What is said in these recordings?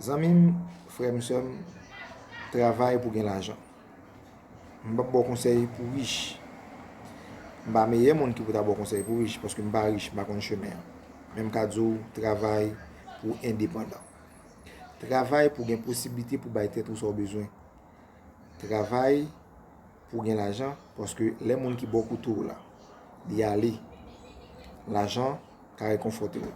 Zanmim, frèm, sèm, travay pou gen lajan. M pap baw konsèy pou rich. M pa meyè moun ki pou ta baw konsèy pou rich, paske m pa rich, m pa konn chemen an. Men m ka di w travay pou w endepandan. Travay pou w gen posiblite pou w bay tèt ou sa w bezwen. Travay. Pou gen lajan paske lè moun ki bò kote w la li ale lajan ka rekonfòte w.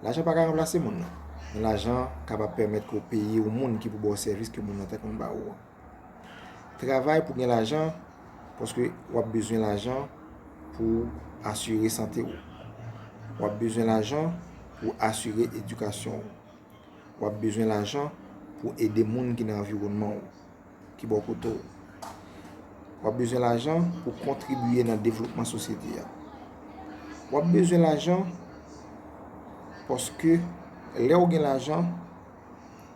Lajan pa ka ranplase moun nan men lajan kapab pèmèt ke w peye yon moun ki pou ba w sèvis ke moun nan te konn ba ou an. Travay pou gen lajan paske w ap bezwen lajan pou w asire sante w. W ap bezwen lajan pou w asire edikasyon w. W ap bezwen lajan pou w ede moun ki nan anviwònman w. ki bò kote w. W ap bezwen lajan pou kontribye nan devlopman sosyete a. W ap bezwen lajan paske lè w gen lajan,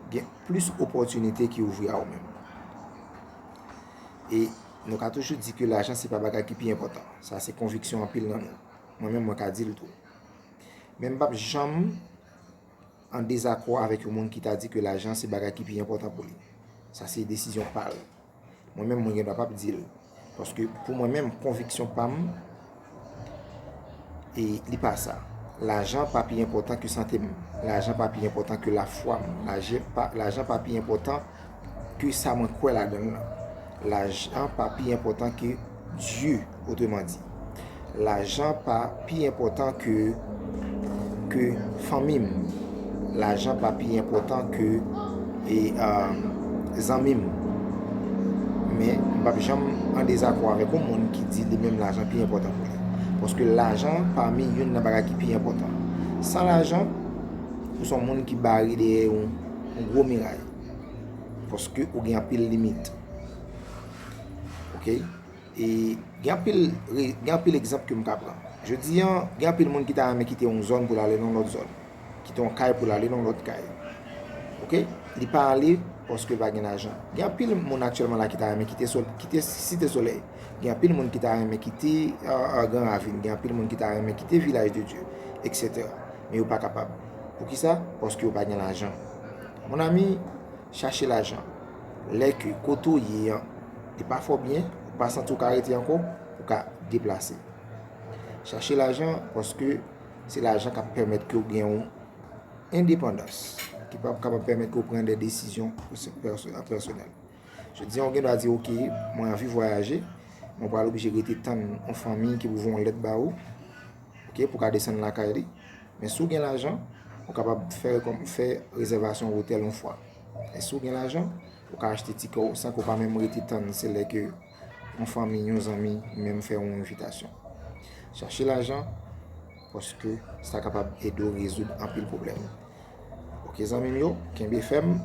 gen plis opòtinite ki ouvri a ou menm. E nou ka toujou di ke lajan se pa bagay ki pi enpòtan. Sa se konviksyon anpil nan nou. Mwen menm mwen ka di l tou. Men m pa p janm. an dezakò avèk yon moun ki ta di ke lajan se bagay ki pi enpòtan pou li. Sa se desizyon pa l. Mwen menm mwen gen dwa pap di l. Paske pou mwen menm konviksyon pa m e li pa sa. Lajan pa pi enpòtan ke sante m. Lajan pa pi enpòtan ke lafwa m. Lajan pa pi enpòtan. ke sa mwen kwè ladann lan. Lajan pa pi enpòtan ke Dye, otreman di. Lajan pa pi enpòtan ke, ke fanmi m. Lajan pa pi enpòtan ke, e, e, zanmi m. Men, m p ap janm an dezakò avèk yon moun ki di li menm lajan pi enpòtan pou li. Paske lajan pami youn nan bagay ki pi enpòtan. San lajan, ou se yon moun ki bare dèyè yon. yon gwo miray. Paske ou gen anpil limit. Ok? E gen anpil egzanp ke m ka pran. Je di an, gen anpil moun ki ta renmen kite yon zòn pou l ale nan lòt zòn. Kite yon kay pou l ale nan lòt kay. Ok? Li pa ale paske l pa gen lajan. Gen anpil moun aktyèlman la ki ta renmen kite Site Solèy. Gen anpil moun ki ta renmen kite Gran Ravin. Gen anpil moun ki ta renmen kite Vilaj de Dye. Etc. Men yo pa kapab. Poukisa? Paske yo pa gen lajan. Mon ami, chache lajan. Lè ke kote ou ye an, e pa fò byen, ou pa santi ou ka rete anko, ou ka deplase. Chache lajan, paske se lajan kap pèmèt ke ou gen yon endepandans. Ki pap kapab pèmèt ke ou pren de desizyon pou se personel. Je di an, ou gen dwa di, ok, mwen anvi vwayaje, mwen pa lopi je rete tan yon fanmi ki pou voun lèt ba ou. ok pou ka desann lakay li men si w gen lajan ou kapab fè rezèvasyon otèl yon fwa men si w gen lajan ou ka achte tikè w san ke w pa menm rete tann se lè ke yon fanmi, yon zanmi menm fè yon envitasyon chache lajan paske sa kapab ede w rezoud anpil pwoblèm ok zanmi m yo kenbe fèm.